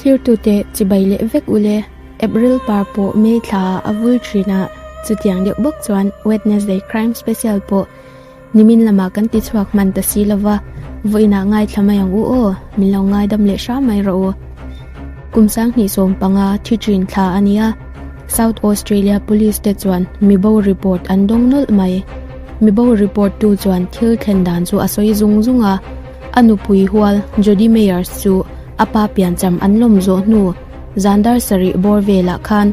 Thlirtute chibai leh vek ule, April par pawh May thla ah a vul thin a, chutiang deuh bawk chuan Wednesday Crime Special pawh nimin lamah kan ti chhuak hman ta si lova, vawiinah ngaithla mai ang u aw, min lo ngaidam leh hram mai rawh u. Kum sanghnih sawm panga thi thin thla a nia, South Australia Police te chuan mibo report an dawng nawlh mai. Mibo report tu chuan thil thlen dan chu a sawi zung zung a. A nupui hual Jody Meyers chu a pa piancham an lawm zawh hnu Zandar sarih bawr velah khan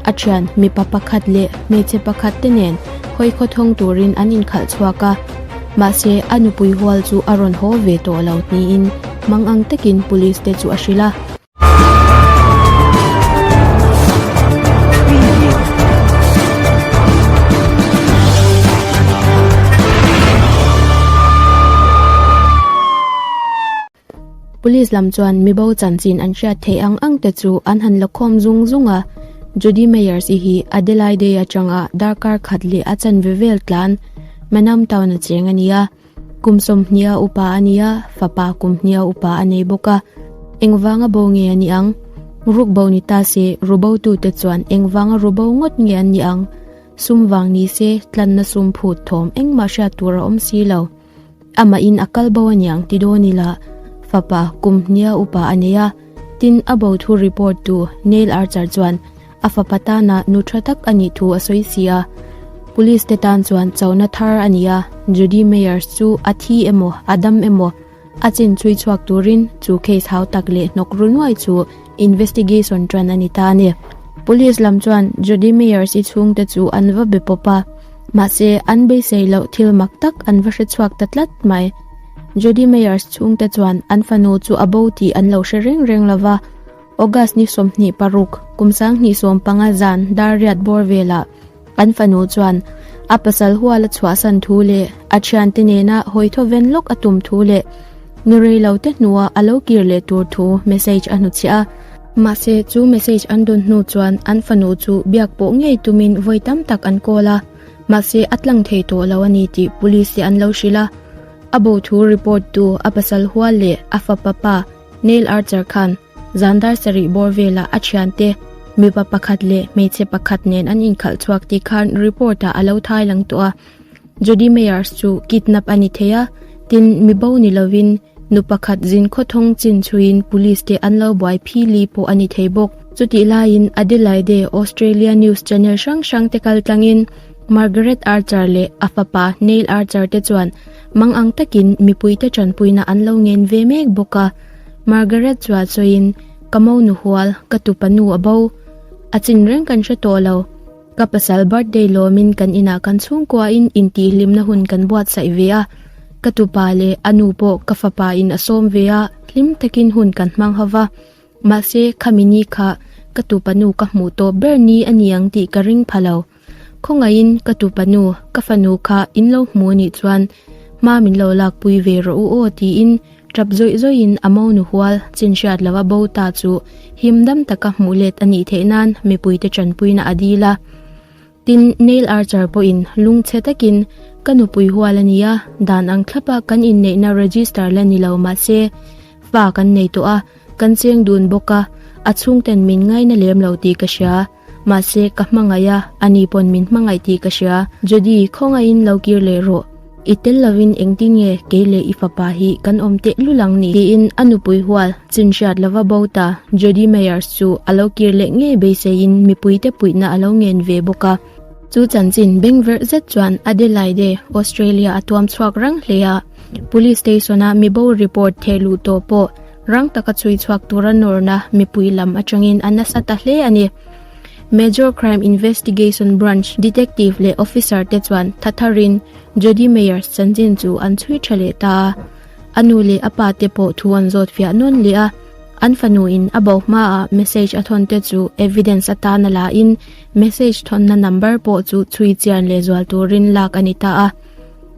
a thian mipa pakhat leh hmeichhe pakhat te nen hawi khawthawng turin an inkhalh chhuak a, mahse a nupui hual chu a rawn haw ve tawh lo tiin mangang takin police te chu a hrilh a. Police lam chuan mi bo chanchin an hriat theih ang ang te chu an han la khawm zung zung a, Judy Meyers i hi Adelaide atanga darkar khat leh a chan ve vel tlan Manam Town a cheng a ni a. Kum sawmhniha upa a ni a, fapa kumhniha upa a nei bawk a. Engvanga bo nge a ni ang? Ruk bo ni ta se, ru botu te chuan engvanga ru bo ngawt nge an ni ang? Sum vang ni se, tlanna sum phut thawm engmah hriat tur a awm si lo. Amahin a kal bo a ni ang ti dawn ila, fapa kumhniha upa a nei a. Tin, a bo thu report tu Neil Archer chuan, a fapa tana nu tha tak a nih thu a sawi si a, Police te tan chuan chauhna thar a ni a, Judy Meyers chu a thi emaw a dam emaw a chinchui chhuak turin chu case hau tak leh hnawk ru nuai chu investigation tan a ni ta a ni. Police lam chuan Judy Meyers i chhungte chu an va be pawp a, mahse an beisei loh thil mak tak an va hre chhuak ta tlat mai. Judy Meyers chhungte chuan an fanu chu a bo tih an lo hre reng reng lo va, August ni sawmhnih paruk, kum sanghnih sawm panga zan dar riat bawr velah an fanu chuan a pasal hual a chhuahsan thu leh a thiante nena hawi thaw ven lawk a tum thu leh ni rei lo te hnua a lo kir leh tur thu message a hnu chhiah a. Mahse, chu message an dawn hnu chuan an fanu chu biak pawh ngei tumin vawi tam tak an call a, mahse a tlang thei tawh lo a ni tih Police-te an lo hrilh a. A bo thu report tu a pasal hual leh a fapa pa, Neil Archer khan zandar sarih bawr vela a thiante mipa pakhat leh hmeichhe pakhat nen an inkhalh chhuak tih khan report-ah a lo thai lang tawh a. Jodi Meyers chu kidnap a ni thei a, tin mi bo ni lovin nu pakhat zin khaw thawng chin chhuin police te an lo buai phi li pawh a ni thei bawk. Chutih laiin Adelaide, Australia news channel hrang hrangte kal tlangin Margaret Archer leh a fapa Neil Archer te chuan, Mang ang takin mipuite tanpuina an lo ngen ve mek bawk a. Margaret chuah chawiin, Ka mo nu hual, ka tu panu a bo. A chin reng kan hre tawh lo. Ka pasal birthday lawmin kan inah kan chhungkuain intihhlimna hun kan buatsaih ve a. Ka tu pa leh a nu pawh ka fapa in a sawm ve a, hlim takin hun kan hmang ho va. Mahse, khami ni kha ka tu panu ka hmuh tawh ber ni a ni ang tih ka ring pha lo. Khawngaihin ka tu panu, ka fanu kha in lo hmu anih chuan hma min lo lakpui ve rawh u aw tiin tap zawih zawihin a mo nuhual chin hriat lo a bo ta chu him dam taka hmuh let anih theih nan mipuite tanpuina a dil a. Tin Neil Archer pawhin lung chhe takin Ka nupui hual ania, dan ang thlapa kan inneihna register la ni lo mahse fa kan nei tawh a, kan cheng dun bawk a, a chhungten min ngaina lem lo tih ka hria. Mahse, ka hmangaih a, a ni pawn min hmangaih tih ka hria. Judy, Khawngaihin lo kir leh rawh. I tel lovin engtin nge kei leh i fapa hi kan awm teh lul ang ni? Tiin a nupui hual chin hriat lova bo ta. Judy Meyers chu a lo kir leh ngei beiseiin mipuite puihna a lo ngen ve bawk a. Chu chanchin beng verh zet chuan Adelaide, Australia a tuam chhuak rang hle a. Police station-a mi bo report thehluh tawh pawh Rang taka chhui chhuak tura nawrna mipui lam atangin a nasa ta hle a ni. Major Crime Investigation Branch detective leh officer te chuan thatharin Jody Meyers chanchin chu an chhui tha leh ta a. A nu leh a pa te pawh thu an zawt fiah nawn leh a. An fanu in a bo hma ah message a thawn te chu evidence atan a la in message thawnna number pawh chu chhui chian leh zual turin lak a ni ta a.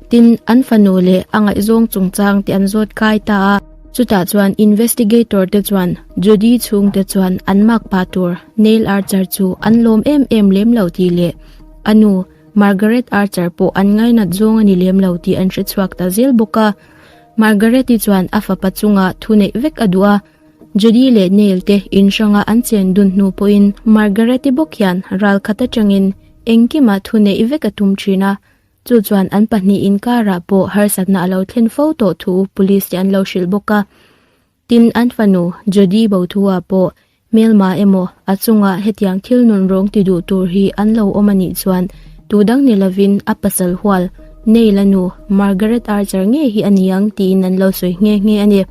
Tin, an fanu leh a ngaihzawng chungchang te an zawt kai ta a. Chutah chuan investigator te chuan Judy chhung te chuan an mak pah tur Neil Archer chu an lawm em em lem lo tih leh a nu Margaret Archer pawh an ngainat zawng a ni lem lo tih an hre chhuak ta zel bawk a. Margaret-i chuan a fapa chungah thu neih vek a duh a, Judy leh Neil te inhranga an chen dun hnu pawhin Margaret-i bawk hian ral khat atangin engkimah thu neih vek a tum thin a. Chu chuan an pahnih inkarah pawh harsatna a lo thlen fo tawh thu police te an lo hrilh bawk a. Tin, an fanu Jody bo thu-a pawh hmelma emaw a chungah hetiang thil nun rawng ti duh tur hi an lo awm a nih chuan tudang ni lovin a pasal hual, Nei la nu, Margaret Archer nge hi a ni ang tiin an lo sawi nghe nghe a ni.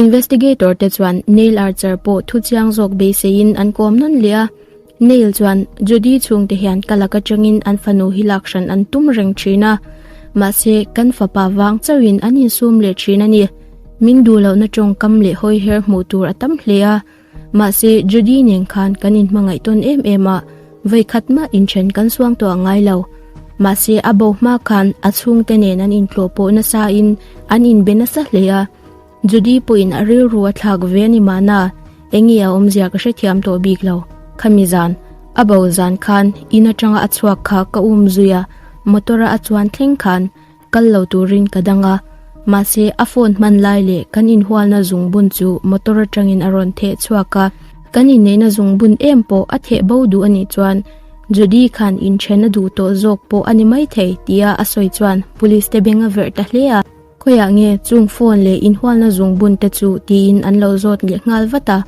Investigator te chuan Neil Archer pawh thu chiang zawk beiseiin an kawm nawn leh a. Neil chuan Judy chhung te hian ka lak atang in an fanu hi lak hran an tum reng thin a, mahse kan fapa vang chauh in an in sum leh thin a ni. Min duh loh na tawngkam leh hawi her hmuh tur a tam hle a, mahse Judy nen khan kan in hmangaih tawn em em a, vawikhat mah in then kan suang tawh a ngai lo. Mahse a bo hma khan a chhung te nen an in tlawh pawh nasa in an in be nasa hle a, Judy pawhin a rilru a thlak ve a ni mahna, eng nge a awmzia ka hre thiam tawh bik lo. Khami zan, a bo zan khan in atanga a chhuak kha ka um zui a, motor-a a chuan thleng khan kal lo turin ka dang a. Mahse, a phone hman lai leh kan inhualna zungbun chu motor atangin a rawn theh chhuak a. Kan inneihna zungbun em pawh a theh bo duh a nih chuan Judy khan inthen a duh tawh zawk pawh a ni maithei tia a sawi chuan Police-te beng a verh ta hle a. Khawiah nge chung phone leh inhualna zung bun te chu? tiin an lo zawt leh nghal vat a.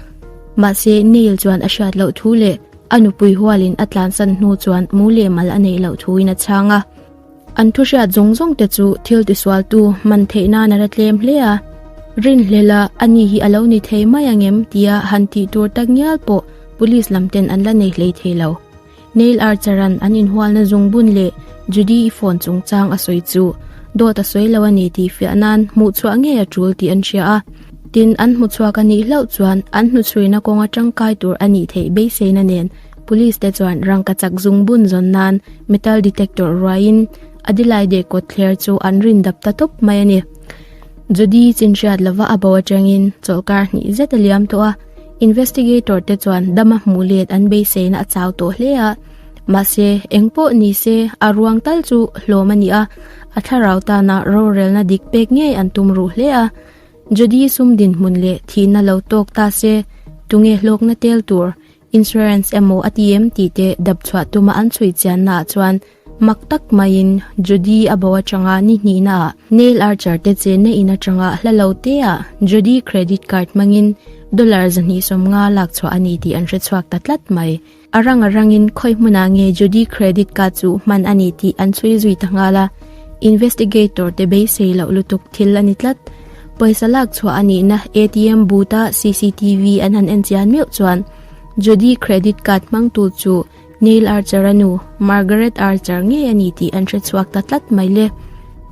Mahse, Neil chuan a hriat loh thu leh a nupui hualin a tlansan hnu chuan mu leh mal a neih loh thuin a chhang a. An thu hriat zawng zawng te chu thil tisualtu man theih nan a ra tlem hle a. Rinhlel a, a ni hi a lo ni thei mai ang em? tia han tih tur tak ngial pawh Police lam ten an la nei hlei thei lo. Neil Archaran an inhualna zungbun leh Judy i phone chungchang a sawi chu dawt a sawi lo a ni tih fiah nan hmuhchhuah ngei a tul tih an hria a. Tin, an hmuhchhuah ka nih hlauh chuan an hnuchhuina kawnga tangkai tur a nih theih beiseina nen Police te chuan rangkachak zungbun zawn nan metal detector ruaiin a dilaidek kawtthler chu an rin dap ta tawp mai a ni. Judy chinhriat lova a bo atangin chawlhkar hnih zet a liam tawh a. Investigator te chuan dam a hmuh let an beiseina a chau tawh hle a, mahse eng pawh ni se a ruang tal chu hlawm a ni a, a thlarau tana rorelna dik pek ngei an tum ruh hle a. Judy sum dinhmun leh thihna lo tawk ta se, tunge hlawkna tel tur, insurance emaw a ti em tih te dap chhuah tuma an chhui chianna ah chuan, Mak tak maiin Judy a bo atanga nihnihna ah nail archer te chenna in atanga hla lo teah Judy credit card hmangin dollar zahnih sawm nga lak chhuah a ni tih an hre chhuak ta tlat mai. A rang a rangin khawi hmunah nge Judy credit card chu hman a ni tih an chhui zui ta nghal a, investigator te beisei loh lutuk thil a ni tlat. Pawisa lak chhuah a nihna ATM booth a CCTV an han en chian meuh chuan Judy credit card hmangtu chu Neil Archer a nu, Margaret Archer ngei a ni tih an hre chhuak ta tlat mai le.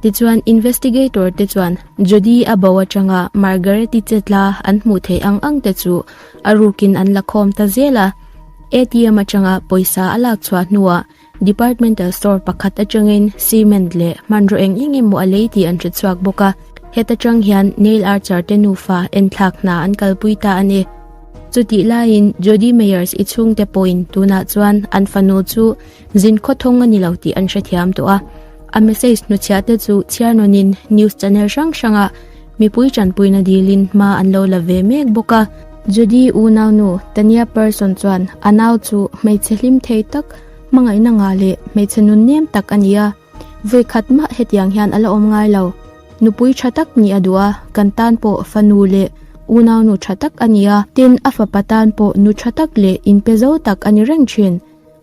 Tichuan, investigator te chuan Jodi a bo atanga Margaret-i che tla an hmuh theih ang ang te chu a rukin an la khawm ta zel a. ATM atanga pawisa a lak chhuah hnuah departmental store pakhat atangin cement leh hmanraw eng eng emaw a lei tih an hre chhuak bawk a. Heta tang hian Neil Archer te nufa enthlak hna an kalpui ta a ni. Chutih laiin Jodi Meyers i chhungte pawhin tunah chuan an fanu chu zin khawthawng a ni lo tih an hrethiam tawh a. A message hnuchhiahte chu chhiarnawnin news channel hrang hranga mipui tanpuina dilin hma an lo la ve mek bawk a. Jodi unau nu Tania Person chuan, A nau chu hmeichhe hlimthei tak, hmangaihna ngah leh hmeichhe nunnem tak a ni a. Vawikhat mah hetiang hian a la awm ngai lo. Nupui tha tak nih a duh a, kan tan pawh fanu leh unaunu tha tak a ni a, tin a fapa tan pawh nu tha tak leh inpe zo tak a ni reng thin.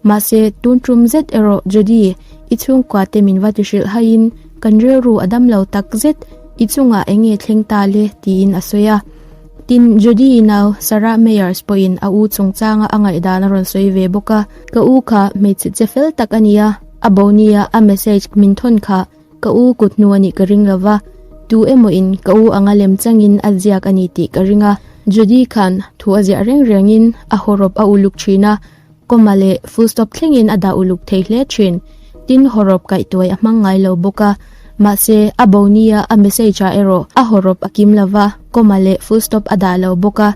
Mahse, tun tum zet erawh Judy i chhungkuate min va ti hrilh haiin kan rilru a dam lo tak zet, i chungah eng nge thleng ta le tiin a sawi a. Tin, Judy i nau Sarah Meyers pawhin a u chungchanga a ngaihdan a rawn sawi ve bawk a. Ka u kha hmeichhe che fel tak a ni a, a Bonnie-a a message min thawn kha, Ka u, kut hnu a nih ka ring lova, tu emaw in ka u anga lem changin a ziak a ni tih ka ring a. Judy khan thu a ziah reng rengin a haw rawp a uluk thin a, comma leh full stop thlengin a dah uluk thei hle thin. Tin, haw rawp kaih tuai a hmang ngai lo bawk a, mahse a bonia a message ah erawh a haw rawp a kim lova, comma leh full stop a dah lo bawk a.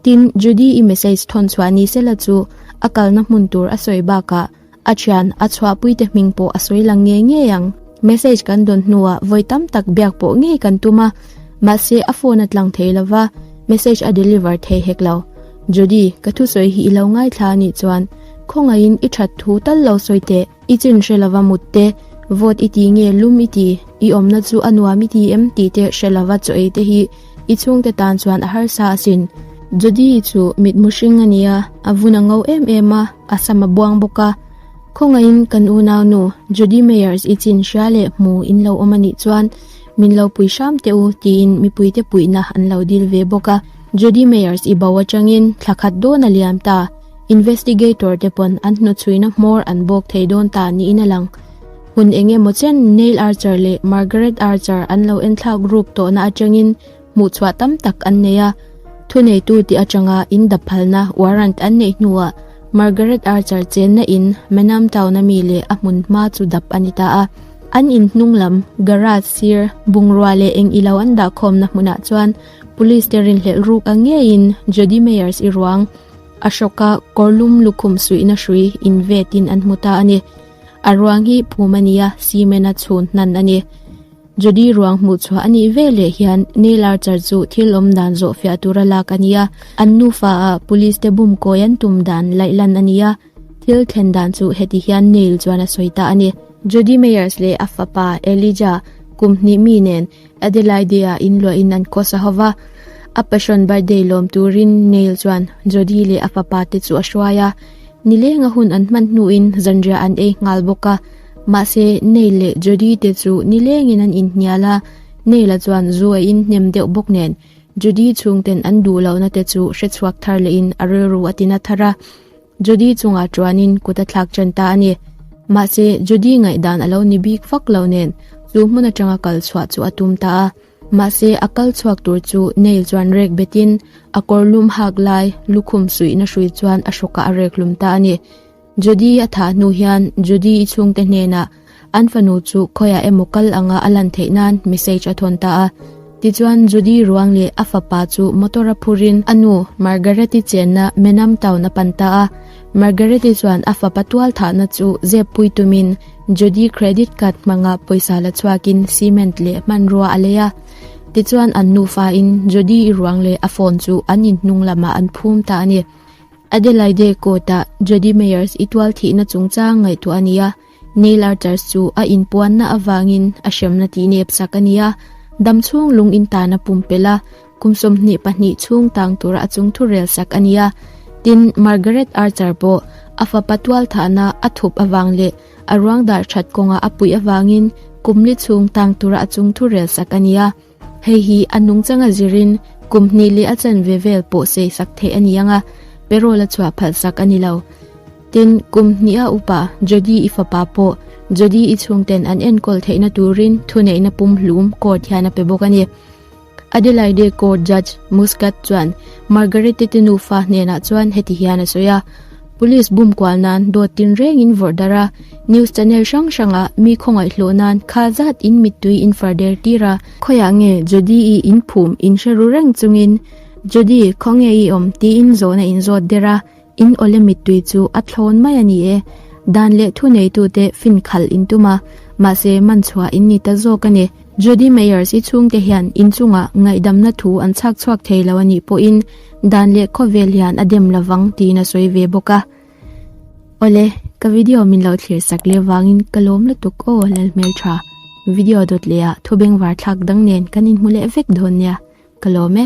Tin, Judy i message thawn chhuah ni sela chu a kalna hmun tur a sawi bakah A thian, a chhuahpui te hming pawh a sawi lang ngei ngei ang. Message kan dawn hnuah vawi tam tak biak pawh ngei kan tum a, mahse a phone a tlang thei lo va, message a deliver thei hek lo. Judy, ka thusawi hi i lo ngaithla a nih chuan, khawngaihin i that thu tal lo sawi teh, i chin hre lo va mut te, vote i ti nge lum i ti, i awmna chu a nuam i ti em tih te hre lo va chaw ei te hi, I chhungte tan chuan a harsa asin. Jodi chu mit mu hring a ni a, a vun a ngo em em a, a sam a buang bawk a. Khawngaihin kan unau nu Jodi Meyers i chin hria leh hmu in lo awm a nih chuan min lo pui hram teh u tiin mipuite puihna an lo dil ve bawk a. Jodi Meyers i bo atangin thla khat dawn a liam ta, investigator te pawn an hnuchhuina hmawr an bawk thei dawn ta niin a lang. hun eng emaw chian Neil Archer leh Margaret Archer an lo enthlak ruk tawhna atangin hmuhchhuah tam tak an nei a. Thuneitu tih atanga inda phalna warrant an neih hnuah Margaret Archer chenna in Menam Town-a mi leh a hmun hma chu dap a ni ta a. An in hnunglam, garage sir, bungrua leh eng ilo an dah khawmna hmunah chuan Police-te rinhlelh ruk a ngeiin Jodi Meyers i ruang Ashok-a kawrlum lukhum suihna hrui invetin an hmu ta a ni. A ruang hi phum a ni a, cement a chhun hnan a ni. Judy ruang hmuhchhuah a nih ve leh hian Neil Archer chu thil awm dan zawhfiah tur a lak a ni a, an nufa a police te bum kawi an tum dan laih lan a ni a. Thil thlen dan chu heti hian Neil chuan a sawi ta a ni. Judy Meyers leh a fapa Elijah kum hnih mi nen, Adelaide-a in luahin an course a ho va, a passion birthday lawm turin Neil chuan Jody leh a fapa te chu a hruai a, ni lenga hun an hman hnuin zanriah an ei nghal bawk a, mahse Neil leh Jody te chu ni lengin an inhnial a, Neil-a chuan zu a inhnem deuh bawk nen Jody chhungten an duh lohna te chu hre chhuak thar lehin a rilru a ti na thar a. Judy chungah ṭuanin kut a thlak ṭan ta a ni. Mahse, Judy ngaihdan a lo ni bik vak lo nen, chu hmun aṭanga kal chhuah chu a tum ta a. Mahse, a kal chhuak tur chu Neil chuan rek betin a kawrlum hak lai lukhum suihna hrui chuan a hrawkah a rek hlum ta a ni. Judy a tha hnu hian Judy i chhungte hnenah An fanu chu khawiah emaw kal anga a lan theih nan message a thawn ta a. Tichuan Judy ruang leh a fapa chu motor a phurin a nu Margareti chenna Menam town a pan ta a. Margareti chuan a fapa tual thahna chu zepui tumin Judy credit card hmangah pawisa la chhuakin cement leh hmanrua a lei a. Tichuan an nufain Judy ruang leh a phone chu an inhnung lamah an phum ta a ni. Adelaide court-ah Judy Meyers i tual thihna chungchang ngaihtuah a ni a. Neil Arthur chu a inpuanna avangin a hremna tih nep sak a ni a, dam chhung lung in tan a pum pel a, kum sawmhnih pahnih chhung tang tura a chung thu rel sak a ni a. Tin, Margaret Arthur pawh a fapa tual thahna a thup avang leh a ruangdar that kawnga a puih avangin kum li chhung tang tura a chung thu rel sak a ni a. Hei hi a nung changa zirin kum hnih leh a chan ve vel pawh sei sak theih a ni ang a, Perol a chhuah phalh sak a ni lo. Tin, kum hnih a upa Jody i fapa pawh Jody i chhungten an enkawl theihna turin thuneihna pumhlum court hian a pe bawk a ni. Adelaide Court Judge Muscat chuan Margarete te nufa hnenah chuan heti hian a sawi a, Police bum kual nan dawt tin reng in vawrh dar a, news channel hrang hrang ah mi khawngaih hlawh nan kha zat in mittui in far der tir a, khawi ah nge Jodi i in phum in hre ru reng chung in Jodi khaw nge i awm ti in zawh na in zawt der a, in awle mittui chu a thlawn mai a ni e, dan leh thu nei tu te fin khal in tum a, mahse man chhuah in ni ta zawk a ni. Jodi Meyers i chhungte hian inchungah ngaihdamna thu an chhak chhuak thei lo a nih pawhin dan leh khawvel hian a dem lovang tiin a sawi ve bawk a. Awle, ka video min lo thlir sak leh vangin ka lawm lutuk aw, lal hmel tha. Video dawt leh ah thubeng varthlak dang nen kan inhmu leh vek dawn nia, ka lawm e.